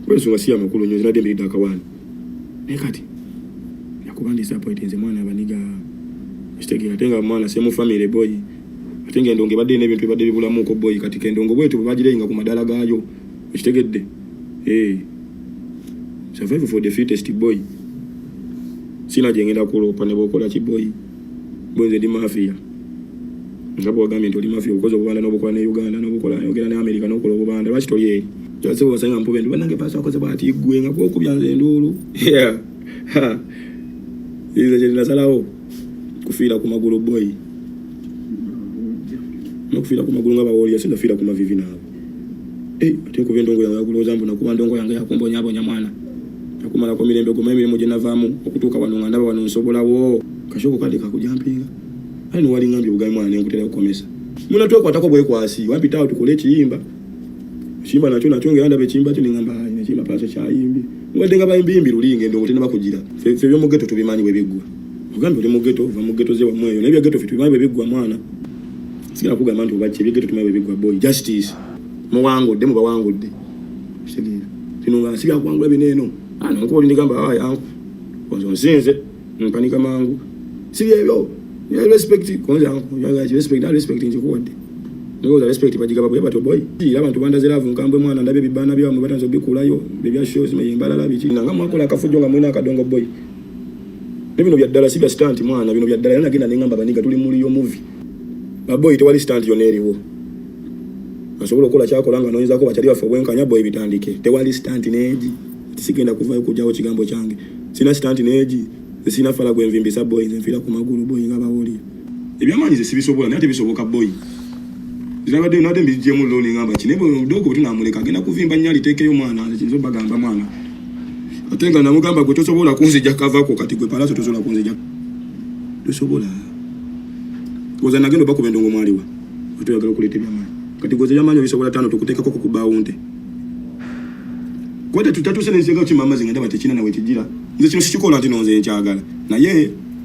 kulwensonga si yamakulu nyo zinadde mbiridde akawaani naye kati nakuba ndi disappointing nze mwana abaniga kitegeera ate nga mwana semu family boy ate nga endongo ebadde ina ebintu ebadde bibulamuuko boy kati kendongo bwetyo bwebagireyinga ku madala gaayo okitegedde eh. survival for the fittest boy sina gyengenda kuloopa ne bwokola ki boy Gwe nze ndi mafia. Nga bwagambye nti oli mafia okoze obubanda n'obukola ne Uganda n'obukola yogera ne Amerika n'okola obubanda lwaki toli eri? Kyase wasanga mpube nti banange paasa akoze bwati gwe nga gwokubya nze enduulu. Yeah. Ha. Ize kye nasalawo kufiira ku magulu boy. Nokufiira ku magulu nga bawoolya sindafiira ku mavivi naabo. Hey, ate kuba endongo yawe yakulooza mbu nakuba ndongo yange yakumbonyabonya mwana nakumalako mirembe guma emirimu gye navaamu okutuuka wano nga ndaba wano nsobolawo kashobo kade kakujampinga ali nowalingambye obugabi mwana nenkutera okukomesa muna twekwatako bwekwasi wampitawo tukole ekiyimba ekiyimba nakyo nakyo ngera ndaba ekiyimba kyo nengamba nekiyimba paaso kyayimbi mubadde nga bayimbiyimbi luli nga endongo tenaba kugira fe byomugeto tubimanyi bwebiggwa ogambye oli mugeto ova mugeto ze wamweyo naye byageto fe tubimanyi bwebiggwa mwana sigala kugamba nti obaki ebyegete tuma bebigwa boy justice muwangudde mubawangudde kitegeera kino nga nsi byakuwangula bino eno ana ah, nkuba olindegamba awa ah, yanku konze onsinze mpanika mangu si byebyo respect konze yanku respect na respect nkikuwadde ndowoza respect bagigaba bwe batyo boy era abantu bandaze love nkambwe mwana ndabe bibana byamwe batanze obikulayo bebya shows meyimbalala biki nanga mwakola akafujjo nga mwina akadongo boy Nebino bya ddala si bya stunt mwana, bino bya ddala era nagenda nengamba baniga tuli muli yo movie. Baboyi tewali stunt yona eriwo. Asobola okola kyakola nga noyinza ko bachali baffe obwenkanya boy bitandike. Tewali stunt neji. Tisigenda kuvayo kujawo kigambo kyange. Sina stunt neji. Sina fala gwe nvimbisa boy nze nfira ku magulu boy nga bawoli. Ebyamaanyi nze sibisobola naye tebisoboka boy. Zirabadde nabadde mbijjemu looni ngamba ki naye bwemudoogo bwetunamuleka agenda kuvimba nnyo aliteekeyo mwana nze kinzo bagamba mwana ate nga namugamba gwe tosobola kunzija kavako kati gwe palaso tosobola kunzija tosobola oza nagenda obakuba endongo mwaliwa otoyagala okuleeta ebyamaanyi kati gwe zeyamaanyi obisobola taano tukuteekako kukubaawunte kwete tutatuse nensinga kukima amazi nga ndaba tekina nawe kijira nze kino sikikola nti nonze nkyagala naye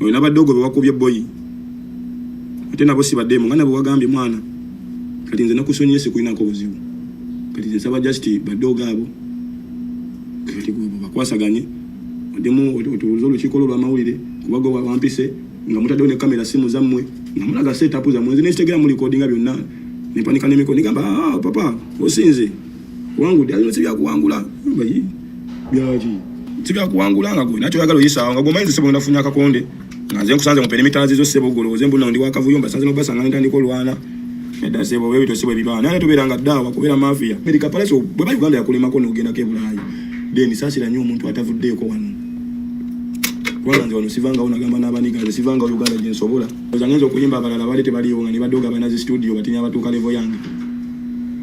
oyo nabadogo bewakubye boyi ate nabo sibademu nga nabo wagambye mwana kati nze nakusonyiye sikulinako buzibu kati nze nsaba just badogo abo kati bakwasaganye odemu otuuze olukiiko lwo lwamawulire kubago wampise nga mutaddewo ne kamera simu zammwe nga mulaga seetapu zammwe nze nekitegera mu likodinga byonna nempanika nemiko nigamba ah, papa osinze Wangudde alina sibya kuwangula. Mbayi. Byaji. Sibya kuwangula nga gwe. Nacho yagala oyisa nga gwe maize sebo nafunya kakonde. Nga nze nkusanze mu perimeter zizo sebo golo. Nze mbuna ndi wakavuyo mbasanze no basa nga nenda ndiko lwana. Neda sebo wewe to sebo bibana. Nani tubera nga dawa kubera mafia. America palace bwe ba Uganda yakulema ko no genda ke bulayi. Deni sasira nyo omuntu atavudde ko wano. Kwanza nze wano sivanga ona gamba nabani gaze sivanga Uganda jinsobola. Ozangenzo kuyimba abalala bali tebaliyo nga nibadoga banazi studio batinya batuka level yange.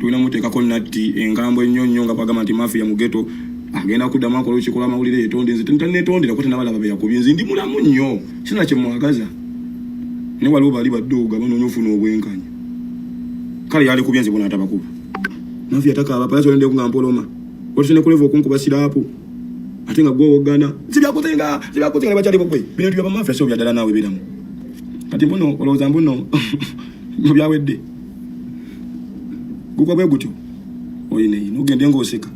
tulina muteekako natti engambo ennyo nnyo nga bagamba nti mafiya mu geto agenda kuddamu akola olukiiko lw'amawulire yetonde nze tanetondera ko tenabalaba beyakubye nze ndi mulamu nnyo sina kye mwagaza naye waliwo bali badduuga banoonya ofuna obwenkanya kale yalikubye nze bona atabakuba mafiya takaaba pala kyolendeko nga mpoloma otusene kuleva okunkuba siraapu ate nga gwowogana sibyakoze nga sibyakoze nga nebakyali bukwe bino tibya bamafiya sio byadala naawe beramu kati mbuno olowooza mbuno mubyawedde gugwa bwe gutyo oyina yino ogende ng'oseka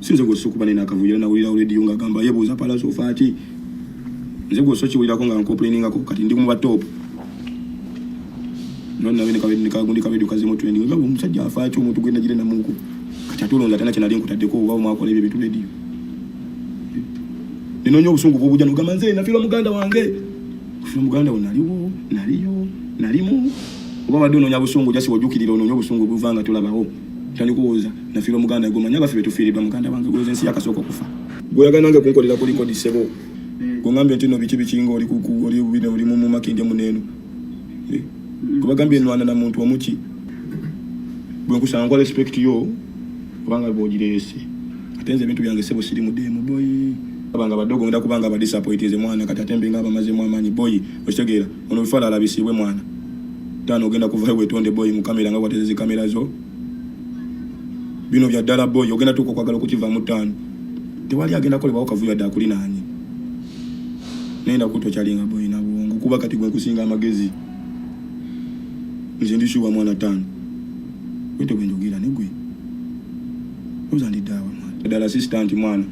sinze gw'ossa okuba nina akavuyo era nawulirawo rediyo ng'agamba yebuuza palaso ofa ki nze gw'ossa okiwulirako nga nkoplainingako kati ndi muba top nonabnekagundi kabedio kazemu trendi nga omusajja afa ki omuntu gwenagire namuku kati ate olonza tena kyenali nkutaddeko oba omwakola ebyo bintu rediyo ninonya obusungu bwobuja nogamba nze nafirwa muganda wange Kufuna muganda wo naliwo, naliyo, nalimu. Oba wadde onoonya busungu jasi wajukirira onoonya obusungu obuva nga tolabawo. Tandika owooza nafiirwa muganda gwe omanyi abaffe betufiiridwa muganda wange gwoze ensi yakasooka okufa. Gwoyagala nange kunkolera kuliko di ssebo. Gwongambye nti no biki bikinga oli kuku oli bubine oli mu makindya muneeno. Eh, Gwebagambye nwana na muntu omuki. Gwenkusanga nkwa respect yo. kubanga bwogireese ate nze ebintu byange sebo siri mudeemu boyi abanga badogo ngenda kubanga abadisappointinze mwana kati ate mbenga abamazemu amaanyi boyi okitegeera ono bifala alabisiibwe mwana taano ogenda kuvayo wetonde boyi mu kamera nga watezezi kamera zo bino bya ddala boyi ogenda tuuka okwagala okukivaamu taano tewali agenda kolebwawo kavuyo adde akulinaanye naye ndakutokyalinga boyi nabwongo kuba kati gwenkusinga amagezi nze ndisuwa mwana taano Wete gwe njogera ne gwe. Oza ndi dawa mwana. Dala assistant mwana.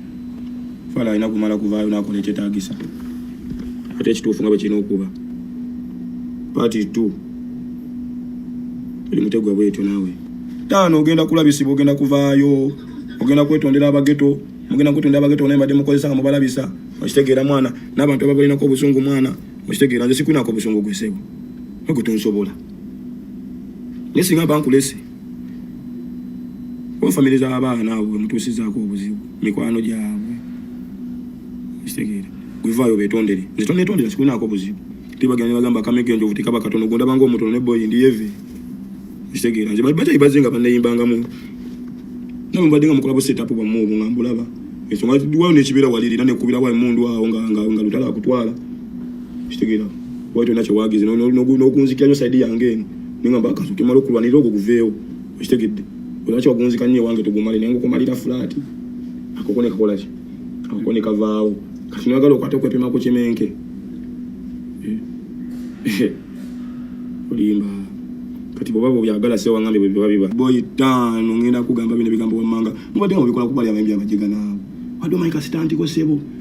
Fala alina kumala kuvaayo n'akola ekyetaagisa. Ate ekituufu nga bwe kirina okuba. Party 2. Tuli mutegwa bwetyo naawe. Taano ogenda kulabisibwa ogenda kuvaayo. Ogenda kwetondera abageto. Mugenda kwetondera abageto naye mbadde mukozesa nga mubalabisa. Okitegeera mwana. N'abantu ababalinako obusungu mwana. Okitegeera nze sikunako obusungu gwe ssebo. Nagwe tonsobola. naye singa bankulese kuba famire z'abaana abo wemutuusizaako obuzibu mikwano gyabwe kitegeera wevaayo betondere nze tonetondera sikunaako buzibu tebagenda nebagamba kamega enjovu tekaba katono gondaba nga omutono ne boyi ndi yeve kitegeera nze bajayi baze nga baneyimbangamu nawe mbadde nga mukolabo setup bwamu obwo nga mbulaba ensonga wayo nekibeera walirira nekubira wa emundu awo nga lutala akutwala kitegera wali tolina kyewagize nokunzikira nyo saidi yange eno nengamba akaso kemala okulwanirira ogwo guveewo okitegedde olina kyewagunzika nyo ewange tugumale naye ngaokumalira fulaati akoko nekakolaki akoko nekavaawo kati noyagala okwata okwepima ku kimenke eh. olimba kati bwoba bwobyagala sewangambe bwebiba biba boyi taano ngenda kugamba bino ebigambo wammanga mubadde nga mubikola kubalyamayimbi amajega naawe wadde omanyi kasitantiko sebo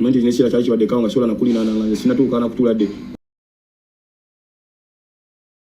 Manje zinesira kyali kibadde kawo nga sola nakulina nanga nze sinatuuka na kutula de